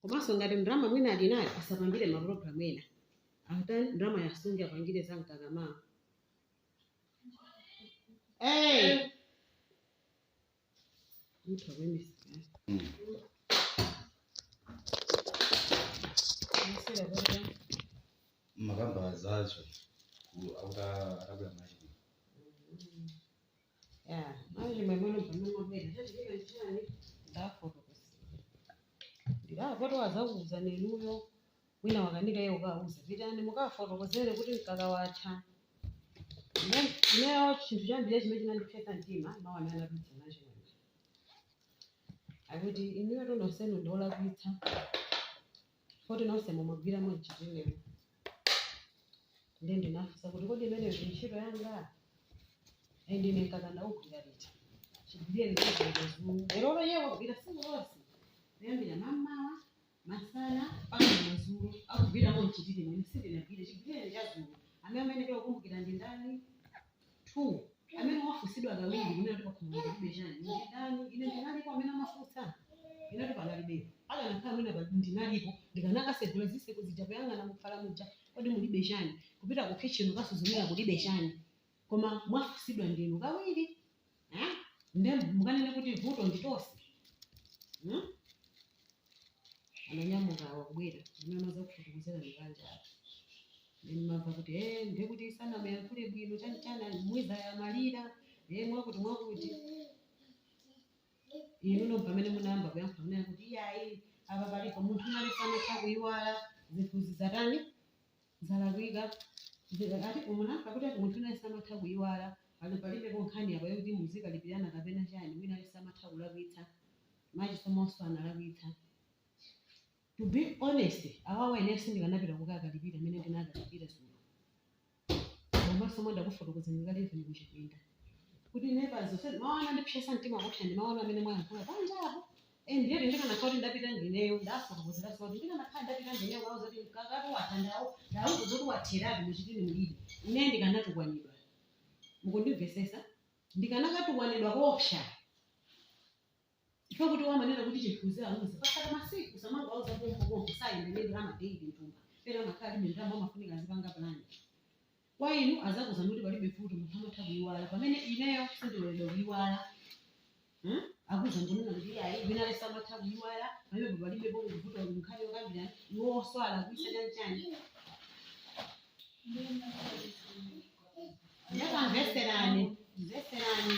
komanso ngati ndalama mwina ali nayo asapangire mapulogalamu ena atani ndalama ayisunge apangire za mkakawo Hey! Mtu wa mimi sikali. Nasira baba. mukamba zazo kuti akabwera machini ndiye vuto wazakuuzani inuyo wina wakanika iye ukauza pitani mukafotokozere kuti mkaka watha. Ine- ineyo chinthu cha number chimene chinandipsetsa mtima mawu amene anapita nacho akuti inuyo nonsenu ndiolakwitsa poti nonse mumagwiramo mchitimemo ndi ndinafunsa kuti kodi imeneyo ndi ntchito yanga and ine ndikanakaugwira liti chigwireni chadzulo lerolo iye wagwira tsiku lonse kuyambira mamawa masana mpaka madzulo akugwiramo mchitimemo sindinagwire chigwireni chadzulo amene amayenekera kukumbukira ndi ndani 2 amene mwafunsidwa kawiri kunena kuti pakhomo kulibe chani ndi ndani ine ndinalipo amene amafunsa inati panalibepo akanakhala mwina pa- ndinalipo ndikanakasegula ziseko zija kuyang'ana mukhala muja kodi mulibe chani kupita ku kitchen kukasuzumira kulibe chani koma mwafunsidwa ndinu kawiri eh? nde mukanene kuti vuto nditose hmm? ananyamuka wakubwera zimene amazakufotokozerani panjapo ndimava kuti e eh, nde kuti sanamuyankhule bwino chanichana mwina zamalira e eh, mwakuti mwakuti inuno pamene munayamba kuyankhula mumanena kuti iyayi apa palipo munthu wina aliyense amatha kuyiwala zinthu zizatani zalakwika zija ati mumanena kuti ati munthu wina aliyense amatha kuyiwala pano palibepo nkhani apa yokuti muzikalipirana kapena chani wina aliyense amatha kulakwitsa Chisomonso analakwitsa to be honest abambo ine sindikanapita kukakalipira mene ndinakalipira dzulo komanso mwandakufotokozerani kale even kuchipinda kuti ine pano mawu anandipsetsa mtima kupsa ndi mawu amene mwayankhula panjapo Eh, ndiye ndikanakhala kuti ndapita ndineyo ndafotokozera kuti ndikanakhala ndapita ndineyo kukauza kuti mkaka watha ndawo ndauza zoti watheratu muchitini mulibe ine ndikanatukwanidwa mukundimvesesa ndikanakatukwanidwa koopsa chifukwa choti amanena kuti chinthuzi auze pasadakhale masiku osamangowauza pompo pompo sayenda ndi ndalama daily mthumba pena amakhala ndi ndalama amafunika azipanga plan Kwa inu azakuzani kuti palibe vuto munthu amatha kuyiwala pamene ineyo sindiloledwa kuyiwala hmm? akuza ngonena kuti ayi wina aliyense amatha kuyiwala pamene palibe pomwe vuto kuti nkhani yokambirana iwo onse alakwitsa chanchani ndakumveserani mveserani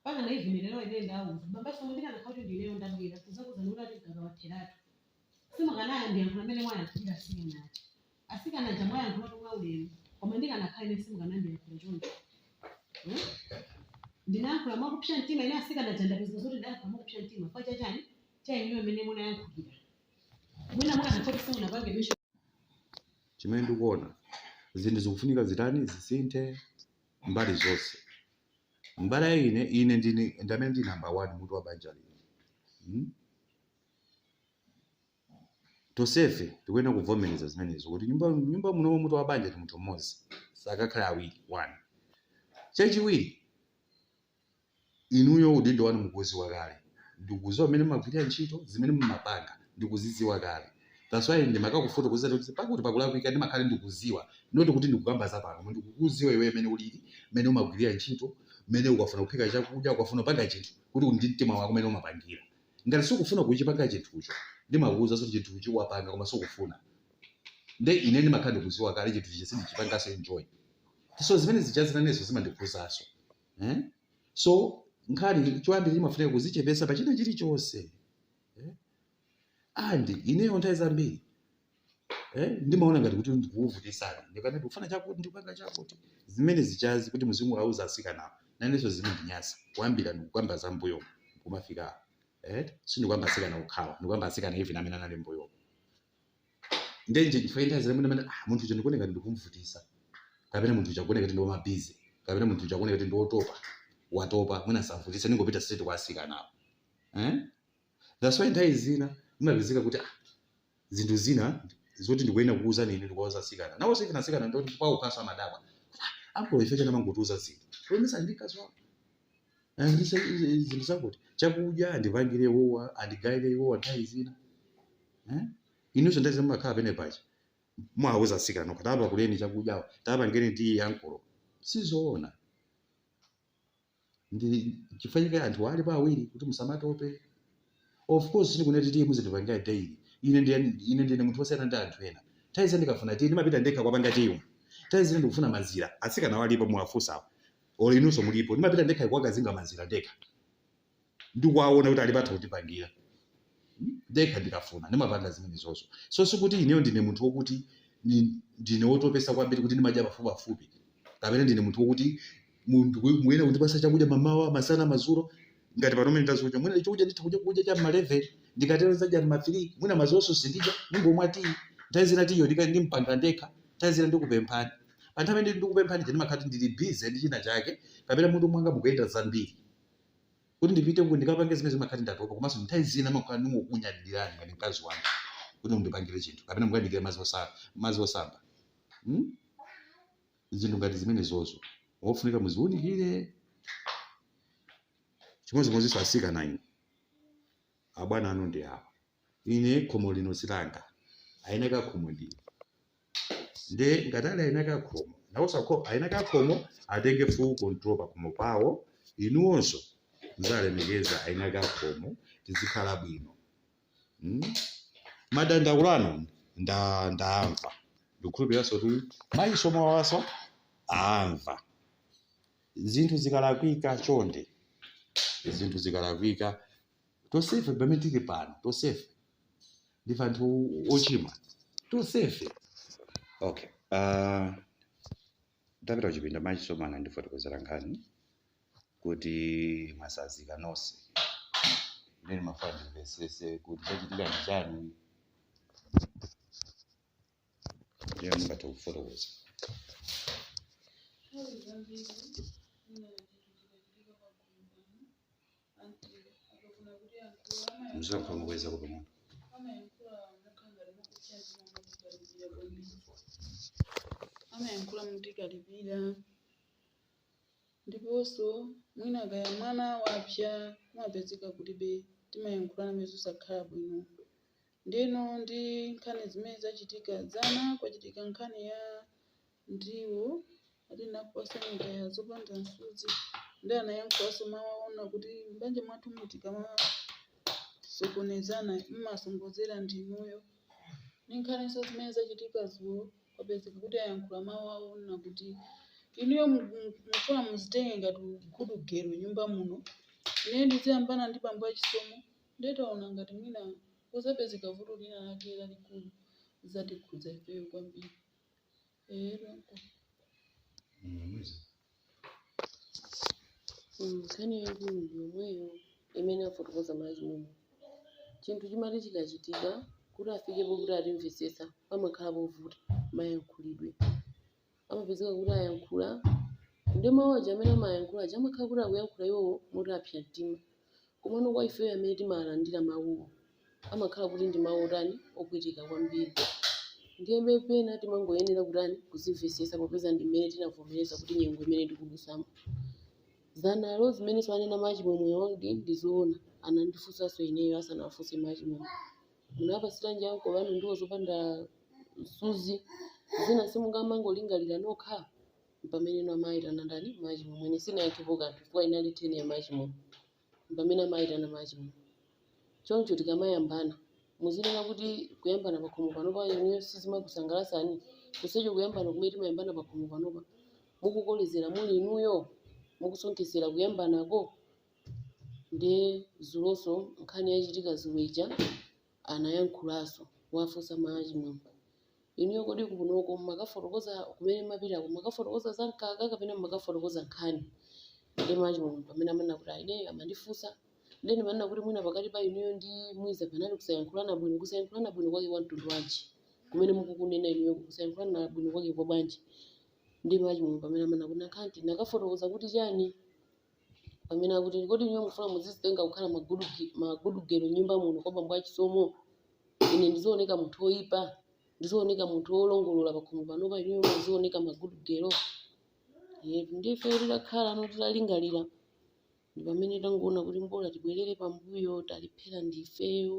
Mpaka na even lelo ine ndawauza babaso kuti ndikanakhala kuti ndi ineyo ndabwera kuzakuwuzani kuti ati mkaka watheratu simukanandiyankhula mmene mwayankhulira asikana aja. Asikana aja mwayankhulatu mwaulemu koma ndikanakhala ine simukanandiyankhula choncho. Hmm? Ndinayankhula mwakupsa mtima ine asikana aja ndapeza zoti ndayankhula mwakupsa mtima kwa chachani cha inuyo mmene munayankhulira. Mwina mukanakhala kuti simunapange mention chimene ndikuona zinthu zikufunika zitani zisinthe mbali zonse. Mbali ya ine, ine ndine, ndi amene ndi namba wani mutu wa banja lino. Hmm? Tonsefe tikuyenera kuvomereza zimenezo kuti nyumba, nyumba muno mutu wa banja ndi munthu mmodzi, sakakhale awiri. One chachiwiri, Inuyo udindo wanu mukuuziwa kale. Ndikuziwa mmene mumagwirira ntchito, zimene mumapanga ndikuzidziwa kale. That's why ndimakakufotokozerani kuti pakuti pakulakwika ndimakhala ndikuziwa not kuti ndikukamba za pano koma ndikukuziwa iweyo mmene ulili, mmene umagwirira ntchito, mmene ukafuna kuphika chakudya, ukafuna kupanga chinthu kuti ndi mtima wako mmene umapangira. Ngati sukufuna kuchipanga chinthucho ndimakuuzanso kuti chinthuchi wapanga koma sukufuna. Nde ine ndimakhala ndikuziwa kale chinthu chija sindichipanganso enjoy. So zimene zijazi nanenso zimandikhuzanso. eh? so nkhani choyambira imafunika kuzichepesa pa china chilichonse eh? andi ineyo nthawi zambiri eh? ndimaona ngati kuti ndikukuvutisani ndikanati ndikufuna chakuti ndikupanga chakuti zimene zijazi kuti muzingowauza asikanawo nanenso zimandinyasa kuyambira ndikukamba za mbuyo kumafika eh? sindikukamba asikana okhawa ndikukamba asikana even amene anali mbuyo ndiye nje chifukwa nthawi zina mwina ah, munthu uja ndikuoneka kuti ndikumvutisa kapena munthu uja akuoneka kuti ndi wamabizi kapena munthu uja akuoneka kuti ndi wotopa watopa mwina ndisamvutise ningopita straight kwa asikanawo eh? that's why nthawi zina imapezeka kuti ah, zinthu zina zoti ndikuyenera kukuuzani inu ndikuwauza asikana nawonso ife nasikana ndoti kwaokhaso amadabwa apo ife chani amangotiuza zinthu kuyendesa ndi mkazi wako Eh, ndi sa- izi- izi zinthu zakuti chakudya andipangire iwowa andigayire iwowa nthawi zina Eh? inunso nthawi zina mmakhala pena paja mwauza atsikana kuti apakulireni chakudyawo tapangeni tiyi ya ankolo sizoona ndi chifukwa chake anthu ali pa awiri kuti musamatope of course sindikunena kuti tiyi muzindipangira daily ine ndiye ine ndine munthu wosiyana ndi anthu ena nthawi zina ndikafuna tiyi ndimapita ndekha kukapanga tiyi nthawi zina ndikufuna mazira atsikana alipo muwafunsawo olo inunso mulipo ndimapita ndekha kuwakazinga mazira ndekha ndikuwaona kuti alipo atha kundipangira ndekha ndikafuna ndimapanga zimenezonso so sikuti ineyo ndine munthu wokuti ni- ndine wotopesa kwambiri kuti ndimadya pafupipafupi kapena ndine munthu wokuti munthu kuy- muyene kundipasa chakudya mamawa masana madzulo ngati pano mene ndazuka mwina chakudya nditha kudya kudya cha mma 11 ndikatero nzadya mma 3 mwina mazulonso sindidya ndingomwa tiyi nthawi zina tiyiyo ndika- ndimpanga ndekha nthawi zina ndikupemphani Pa nthawi imene ndikupemphani ija ndimakhala kuti ndili busy ndi china chake kapena mutu mwanga mukuyenda zambiri. Kuti ndipite uku ndikapange zimenezo ndimakhala kuti ndatopa komanso nthawi zina ndimakhala ndingokunyadirirani ngati mkazi wanga kuti mundipangire chinthu kapena mukandiikire madzi osa- madzi osamba. Hmm? Zinthu ngati zimenezozo kofunika muziwunikire chimodzimodzinso asikana inu abwana anu ndi awa. ine khomo lino si langa, aeni ake a khomo ndi inu. Nde ngati ali aeni ake a khomo, nawonso akho- aeni ake a khomo atenge full control pa khomo pawo, inuwonso muzalemekeza aeni ake a khomo, tizikhala bwino. Mm? Madandaulo anu ndaamva, ndikukhulupiriranso kuti mayi Chisomo awanso aamva. Zinthu zikalakwika chonde, zinthu zikalakwika Tonsefe pamene tili pano, tonsefe ndife anthu ochimwa, tonsefe. Okay, uh, ndapita kuchipinda ma Chisomo anandifotokozera nkhani kuti mwasazika nonse ine ndimafuna ndimvesese kuti chachitika ndi chani ndiye mungathe kufotokoza Muziyankhula mokweza kuti timve. amayankhula motikalipira ndiponso mwina kaya mwana wapsa kumapezeka kuti timayankhulanabe zosakhala bwino ndeno ndi nkhani zimene zachitika dzana kwachitika nkhani ya Ndiwo ati ndakupatsani kaya zopanda msuzi ndi anayankhulanso mawu onena kuti, M'banja mwathumu tikamasokonezana m'masonkhezera ndi inuyo. Ndi nkhaninso zimene zachitika dzulo, kwapezeka kuti ayankhula mawu awo onena kuti, Inuyo mukufuna muzitenge ngati good girl nyumba muno, ineyo ndiziyambana ndi bambo a Chisomo, ndiye taona ngati mwina kudzapezeka vuto lina lake lalikulu, lidzatikhudza ifeyo kwambiri. Nkhani yaikulu ndi yomweyo imene afotokoza Malazi Mumu. Chinthu chimati chikachitika, kuti afike pokuti atimvetsetsa pamakhala povuta mayankhulidwe. Amapezeka kuti ayankhula, nde mawu aja amene amayankhula aja amakhala kuti akuyankhula iwowo moti apsa mtima. Komano kwa ifeyo amene timalandira mawuwo, amakhala kuti ndi mawu otani? Opweteka kwambiri. Ndiyebe pena timangoyenera kutani? Kuzimvetsetsa popeza ndi mmene tinavomereza kuti nyengo imene tikudutsamo. Dzanalo zimenenso anena Mayi Chimwemwewo ndi zoona, anandifunsanso ineyo asanawafunse Mayi Chimwemwe. Munapatsiranji ankolo anu ndiwo zopanda msuzi? Zina simungamangolingalira nokha? Mpamene inu amaitana ndani? Machimwemwe. Ine sinayankhepo kanthu chifukwa inali theni ya machimwemwe. Mpamene amaitana machimwemwe. Choncho tikamayambana, muzinena kuti kuyambana pakhomo panopa inuyo sizimakusangalatsani, chonsecho kuyambana kumene timayambana pakhomo panopa mukukolezera muli inuyo, mukusonkhezera kuyambanako. Ndiye dzulonso nkhani yachitika dzulo ija anayankhulaso kuwafunsa ma achimwemwe inuyo kodi kunoko mumakafotokoza kumene mumapitako mumakafotokoza za mkaka kapena mumakafotokoza nkhani ndi ma achimwemwe pamene amanena kuti ayi ineyo amandifunsa ndiye ndimanena kuti mwina pakati pa inuyo ndi mwiza panali kusayankhulana bwino kusayankhulana bwino kwake kwa mtundu wanji kumene mukukunena inuyo kusayankhulana bwino kwake kwa bwanji ndi ma achimwemwe pamene amanena kuti nakhanti nakafotokoza kuti chani pamene akuti kodi inuyo mufuna muzizitenga kukhala ma good girl nyumba muno kwa bambo achisomo ine ndizioneka munthu woyipa ndizioneka munthu wolongolola pakhomo panopa inuyo muzioneka ma good girl nde ifeyo titakhalano titalingalira ndi pamene tangoona kuti mbola tibwerere pambuyo talephera ndifeyo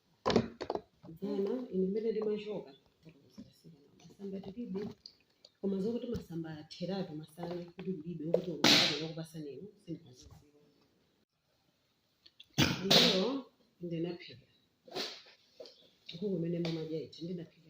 dzana ine mmene ndimachoka masamba tilibe koma zokuti masamba atheratu masana kuti kulibe okuti uaa wokupasa ineyo sindinaziziwa lero ndinaphika nkhuku imene mumadya ija ndinaphika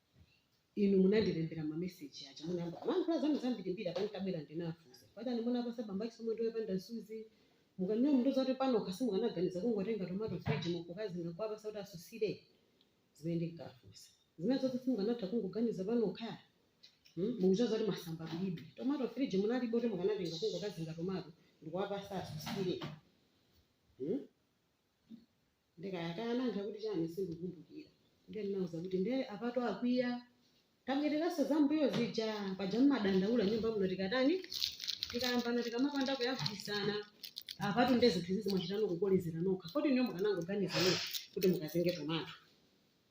Inu munandilembera ma message aja munayamba kulankhula zanu zambirimbiri apa nditabwera ndinafunsa pajani munapasa bambo a Chisomo ndiwo yopanda nsuzi mukufuna mundiuze kuti panokha simukanaganiza kungotenga tomato fridge mu nkukazinga nkuwapasa kuti asusire zimene ndinkafunsa zina zonse simukanatha kungoganiza panokha hmm? mukuziwa zoti masamba kulibe tomato fridge munalibe kuti mukanatenga kungokazinga tomato ndikuwapasa asusire hmm? nde kaya kaya anayankha kuti chani sindikukumbukira ndiye ndinauza kuti nde apatu akwiya tabwereranso zambuyo zija paja mmadandaula nyumba muno tikatani tikayambana tikamapanda kuyankhulitsana apatu nde zinthu izi mwachitano kukolezera nokha kodi inuyo mukanangoganiza nokha kuti mukazinge tomato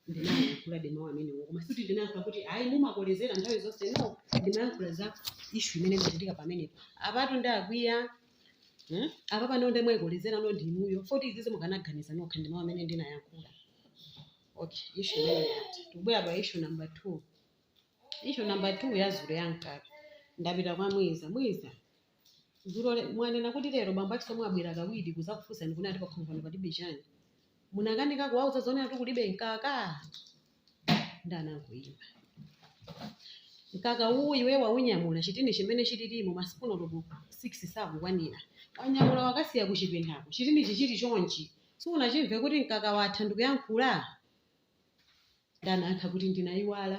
ndinayankhuladi mawu amenewo koma sikuti ndinayankhula kuti ayi mumakolezera nthawi zonse no ndimayankhula za ishu imene imachitika pamenepo apatu nde akwiya hmm? apa pano nde mwayikolezerano ndi inuyo foti izizi mukanaganiza nokha ndi mawu amene ndinayankhula okay ishu imene yati tikubwera pa ishu number two ishu number two ya zulo ya mkaka ndapita kwa mwiza mwiza Dzulo le- mwanena kuti lero bambo a Chisomo abwera kawiri kuzakufunsani kuti ati pakhomo pano palibe chani munakanika kuwauza zonena kuti kulibe mkaka ndanangoyima mkaka uwu iwe waunyamula chitini chimene chililimo masipuni olobo 6 sakukwanira wanyamula wakasiya kuchipindako chitini chichili chonchi siunachimve kuti mkaka watha ndikuyankhula ndanayankha kuti ndinayiwala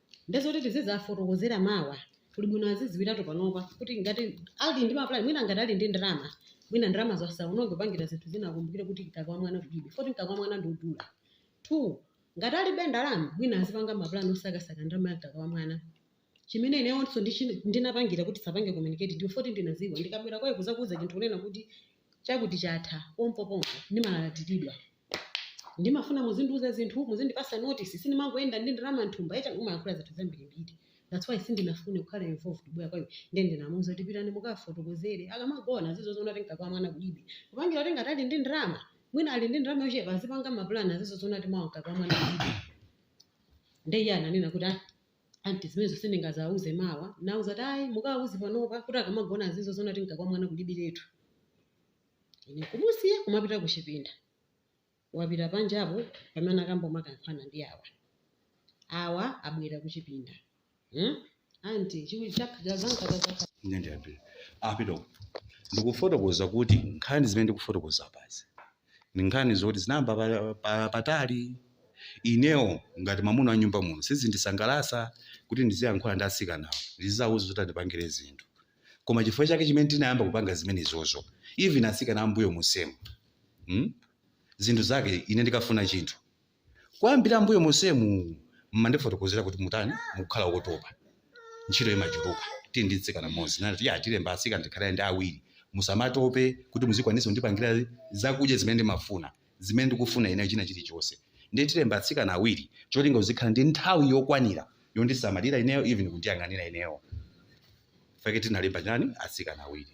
nde zoti tizizafotokozera mawa kuli bwino aziziwiratu panopa kuti ngati ali ndi maplan mwina ngati ali ndi ndalama mwina ndalamazo asaononge kupangira zinthu zina akumbukire kuti mkaka wa mwana kulibe foti mkaka wa mwana ndi wodula two ngati alibe ndalama mwina azipanga maplan osakasaka ndalama ya mkaka wa mwana chimene ineyonso ndichi- ndinapangira kuti sapange communicate ndi foti ndinaziwa ndikabwera kwa iwe kuzakuuza chinthu kunena kuti Chakuti chatha pompo pompo ndimalalatiridwa. Ndimafuna muzindiuza zinthu, muzindipasa notice, sindimangoyenda ndi ndalama mthumba eti umayankhula zinthu zambirimbiri that's why sindinafune kukhala involved kubwera kwa iwe nde ndinamuuza kuti pitani mukafotokozere akamagona azizoziona kuti mkaka wa mwana kulibe kupangira kuti ngati ali ndi ndalama mwina ali ndi ndalama yochepa azipanga mapulani azizoziona kuti mawa mkaka wa mwana kulibe nde iye ananena kuti ah Aunt zimenezo sindingazauze mawa nauza kuti ayi mukawauze panopa kuti akamagona azizozona kuti mkaka wa mwana kulibiretu. Ine nkumusiya kumapita kuchipinda. Wapita panjapo pamene anakamba umakayankhulana ndi awa. Awa abwera kuchipinda. Hmm? Aunt chiku chakha cha zamkaka zakha. Ine ndiyambira. Apita uko. Ndikufotokoza kuti nkhani zimene ndikufotokoza apazi. ndi nkhani zoti zinayamba pa- pa- patali inewo ngati mamuna wa nyumba muno sizindisangalasa kuti ndiziyankhula ndi atsikanawo ndiziwauza zoti andipangire zinthu koma chifukwa chake chimene tinayamba kupanga zimenezozo even atsikana ambuyo monsemu hmm? zinthu zake ine ndikafuna chinthu Kuyambira mbuyo monsemu mmandifotokozera kuti mutani mukukhala wotopa ntchito imachuluka tili ndi mtsikana mmodzi nati ya tilemba atsikana tikhale ndi awiri musamatope kuti muzikwanisa kundipangira zakudya zimene ndimafuna zimene ndikufuna ineyo china chilichonse ndiye tilemba atsikana awiri cholinga uzikhala ndi nthawi yokwanira yondisamalira ineyo even kundiyang'anira ineyo fake tinalemba chani atsikana awiri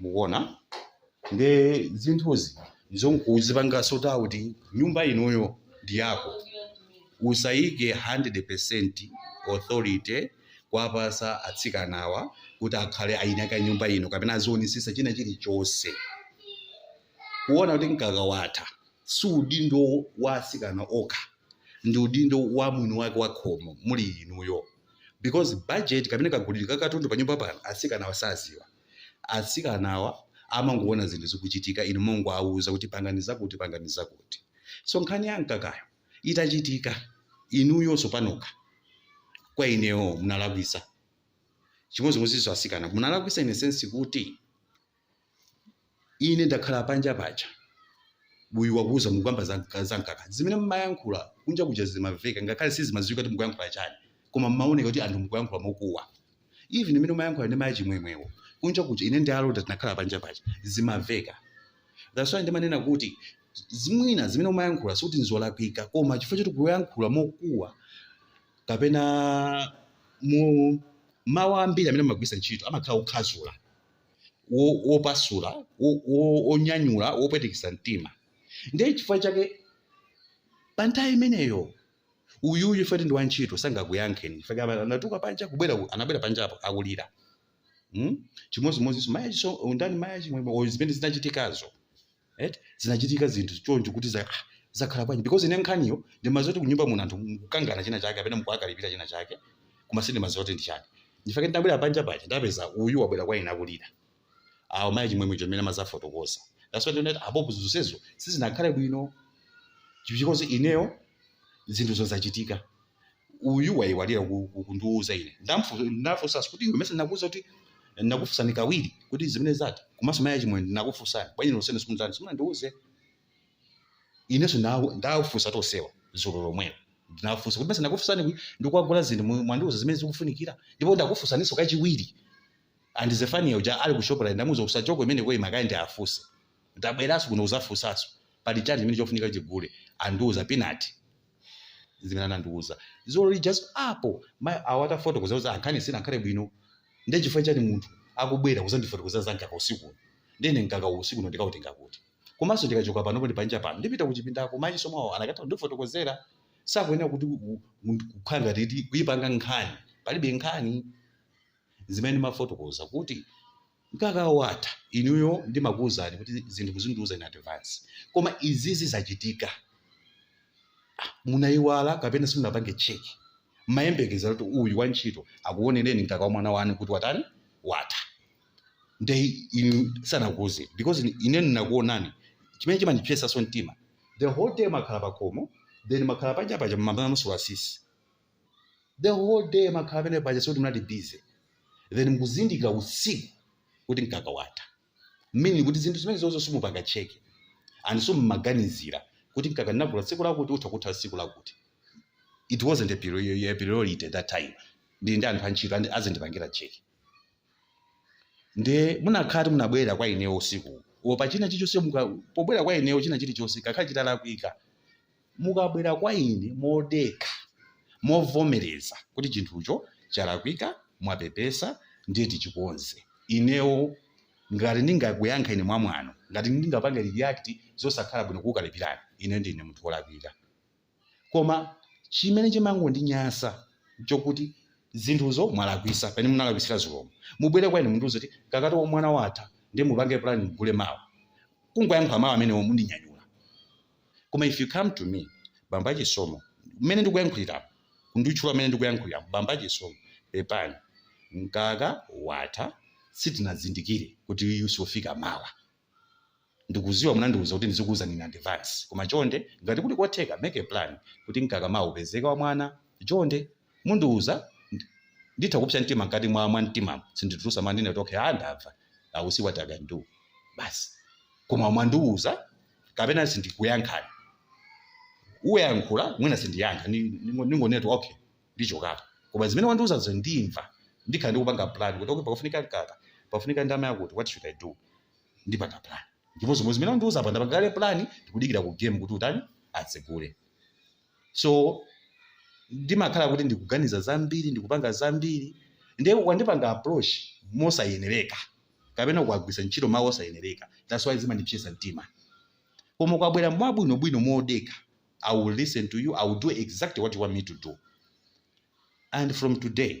mukuona nde zinthuzi ndizonkuzipangaso ta kuti nyumba inoyo ndi yako usayike 100% authority kuwapasa atsikanawa kuti akhale ayinaka nyumba ino kapena azionesesa china chilichonse kuona kuti mkaka watha si udindo wa atsikana okha ndi udindo wa mwini wake wa khomo muli inuyo because budget kapena kagulidwe ka katundu pa nyumba pano atsikanawa saziwa atsikanawa amangoona zinthu zikuchitika inu mumangowauza kuti pangani zakuti pangani zakuti so nkhani ya mkakayo itachitika inuyonso panokha kwa inewo munalakwisa chimodzimodzinso atsikana munalakwisa in a sense kuti ine ndakhala panja paja uyu wakuwuza mukukamba za mka- za mkaka zimene mmayankhula kunja kuja zimamveka ngakhale sizimaziwika kuti mukuyankhula chani koma mmaoneka kuti anthu mukuyankhula mokuwa even imene umayankhula ndi mayi a Chimwemwewo kunja kuja ine ndi a Lota tinakhala panja paja zimamveka that's why ndimanena kuti mwina zimene mumayankhula sikuti nzolakwika koma chifukwa choti kuyankhula mokuwa kapena mu mawu ambiri amene mumagwilitsa ntchito amakhala okhazula wopasula wo, wo, wo, wonyanyula wopwetekesa mtima ndiye chifukwa chake pa nthawi imeneyo uyuyu fati ndi wantchito sangakuyankheni anatuluka panja kubwera anabwera panjapo akulira hmm? chimodzimodzinso mayi a Chiso- ndani mayi a Chimwemwe zimene zinachitikazo eti zinachitika zinthu choncho kuti za ah, zakhala bwanji because ine nkhaniyo ndimadziwa kuti kunyumba muno anthu mukukangana china chake kapena mukuwakalipira china chake koma sindimadziwa kuti ndi chani nchifukwa chake ndinabwera panja paja ndapeza uyu wabwera kwa ine akulira awo mayi a Chimwemwe chomene amazafotokoza that's why ndinati apopo zonsezo sizinakhale bwino because ineyo zinthu zozachitika uyu wayiwala ku- ku- kundiwuza ine Ndamfu- ndinafunsanso kuti iwe mesa ndinakuwuza kuti ndinakufunsani kawiri kuti zimene zatha komanso mayi a Chimwemwe ndinakufunsani bwanji nonsene simundiuza simunandiuze inenso ndawu- ndawafunsa tonsewa dzulo lomwelo ndinafunsa kuti mesa ndakufunsani kuti ndikukagula zinthu mu- mwandiuza zimene zikufunikira ndipo ndakufunsaninso kachiwiri and Zefaniya uja ali ku shoprite ndamuuza usachoke imene koyima kaye ndiafunse Ndabweraso kuno kuzafusaso pali chani chimene chofunika tigule andiuza Pinard zimene anandiuza zulo lijaso apo ma awo atafotokoza kuti nkhani sinakhale bwino nde chifukwa chani munthu akubwera kuzandifotokozera za nkaka usiku uno nde ine nkaka uwu usiku uno ndikautenga kuti komaso ndikachoka pano poti panja pano ndipita kuchipindako mayi omwewo anakatha kundifotokozera sakuyenera kuti kukhala ngati eti kuipanga nkhani palibe nkhani zimene mumafotokoza kuti mkakawo watha inuyo ndimakuwuzani kuti zinthu muzindiwuza in advance koma izizi zachitika Ah, munayiwala kapena simunapange check mayembekezera kuti uyu wantchito akuonereni mkaka wa mwana wanu kuti watani watha nde inu sanakuwuzeni because ine- ine ndinakuonani chimene chimandipyesaso mtima the whole time mmakhala pakhomo then mmakhala panja paja mmamasula sisi the whole day makhala pamene paja sikuti munali busy then mukuzindikira usiku kuti mkaka watha meaning kuti zinthu zimene zonse simupanga check and so mumaganizira kuti mkaka ndinagula tsiku lakuti utha kutha tsiku lakuti it wasn't a priori- a priority that time ndili ndi anthu antchito azindipangira check nde munakati munabwera kwa inewo usiku uwu pa china chilichonse muka- pobwera kwa inewo china chilichonse kakhala chitalakwika mukabwera kwa ine modekha, movomereza kuti chinthucho chalakwika, mwapepesa, ndiye tichikonze. Inewo ngati ndingakuyankha ine mwamwano, ngati ndingapange react zosakhala bwino kukukalipirani, ineyo ndine munthu wolakwika. Koma chimene chimangondinyansa nchokuti zinthuzo mwalakwisa pamene munalakwisira dzulomu. Mubwere kwa ine mundiuze kuti mkaka wa mwana watha ndiye mupange plan mugule mawa. Kungoyankhula mawu amenewo mundinyanyula. koma if you come to me bambo a Chisomo mmene ndikuyankhuliramu kunditchula mmene ndikuyankhuliramu bambo a Chisomo pepani mkaka watha sitinazindikire kuti uyu siufika mawa ndikuziwa munandiuza kuti ndizikuuzani in advance koma chonde ngati kuli kotheka make a plan kuti mkaka mawa upezeke wa mwana chonde mundiuza nd, nditha kupsa mtima mkati mwa mwa mtimamu sinditulusa ndingoti okay ah ndamva i will see what i can do basi koma mwandiuza kapena sindikuyankhani uyankhula mwina sindiyankha ni- ningo- ningonena kuti okay ndichokapo koma zimene wandiuzazo ndimva ndikhala ndikupanga plan kuti okay pakufunika mkaka pafunika ndama yakuti what should i do ndipanga plan ndipo zimene wandiuza apa ndapanga kale plan ndikudikira ku game kuti utani atsegule so ndimakhala kuti ndikuganiza zambiri ndikupanga zambiri nde mwandipanga approach mosayenereka kapena mwagwisa ntchito mawu osayenereka that's why zimandipsesa mtima koma mwabwera mwabwinobwino modekha i will listen to you i will do exactly what you want me to do and from today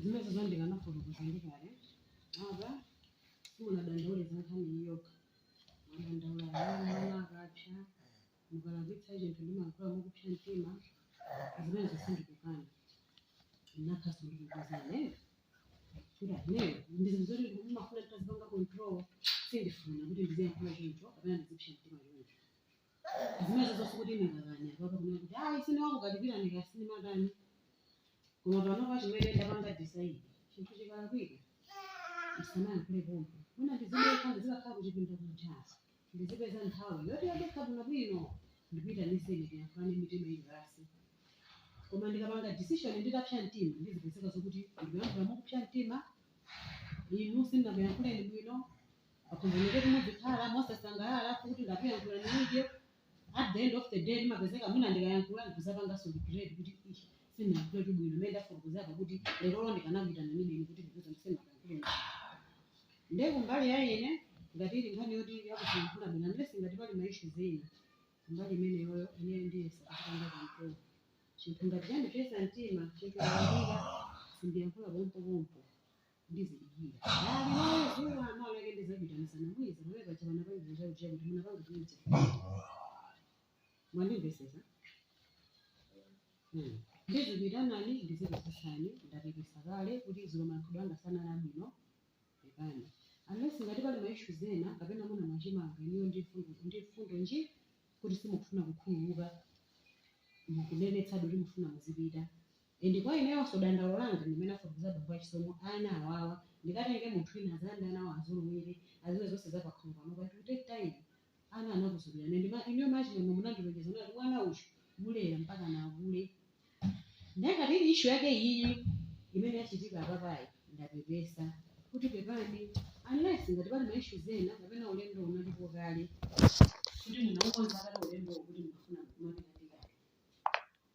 zimene zandikanika kuzandikale apa simunadandaule za nkhani iyi yokha mwadandaula mwina kupsa mukalakwitsa chinthu ndimayankhula mokupsa mtima zimenezo sindikukana nakhaso ndikukozane kuti ineyo ndi zinthu zoti ndimafuna nditazipanga control sindifuna kuti ndiziyankhula choncho kapena ndizipsa mtima choncho zimenezo sikuti ndingakane apapa kunena kuti ayi sindimakukalipirani kapena ndimatani koma panopa chimene ndapanga decide chinthu chikalakwika ndisamayankhule pompo mwina ndizipita ndizikakhala kuchipinda kumchakenso ndizipeza nthawi yoti yadekha bwino bwino ndikuitaniseni tiyankhulane mitima ili pansi koma ndikapanga decision nditapsa mtima ndizipezeka zokuti ndikuyankhula mokupsa mtima inu sindinakuyankhuleni bwino akumbuke kumuzikhala mosasangalala kuti ndakuyankhula nanii at the end of the day ndimapezeka mwina ndikayankhula ndikudzapanganso regret kuti ish sindinayankhule bwino mmene ndafotokozera kuti lerolo ndikanakuitana ninini kuti ndikuuzeni ndisanayankhule nde kumbali ya ine ngati ili nkhani yoti yakuyankhula bwino unless ngati pali ma issues ena kumbali imeneyoyo ine ndiyesa kupanga control chinthu ngati chandipsetsa mtima chinthu ndayambira sindiyankhula pompopompo ndizidikira dzulo loyo dzuwa mawa lake ndidzaitanitsana mwizi pamene paja panapangidwa chakuti ija kuti munapanga kuja mwandimvetsetsa Hmm. ndizikuitanani ndizikufunsani ndapepesa kale kuti dzulo malankhulidwe anga sanali abwino pepani unless ngati pali ma issues ena kapena muna mwachimanga inuyo ndi mfundo ndi mfundo nji kuti simukufuna kukhululuka mukunenetsadi kuti mufuna muzipita Inde kwa ineyonso dandaulo langa ndi mmene afotokozera bambo achisomo a ana awawa ndikatenge munthu wina adzayambe anawa azolowere adziwe zonse za pakhomo panopa it will take time ana anakuzolowelani and inuyo Achimwemwe munandilonjeza munati mwana uyu mulera mpakana akule ndiye ngati ili issue yake iyiyi imene yachitika apapayi ndapepesa kuti pepani unless ngati pali ma issues ena kapena ulendo unalipo kale kuti munaukonza kale ulendowo kuti mukufuna kumapita ndikale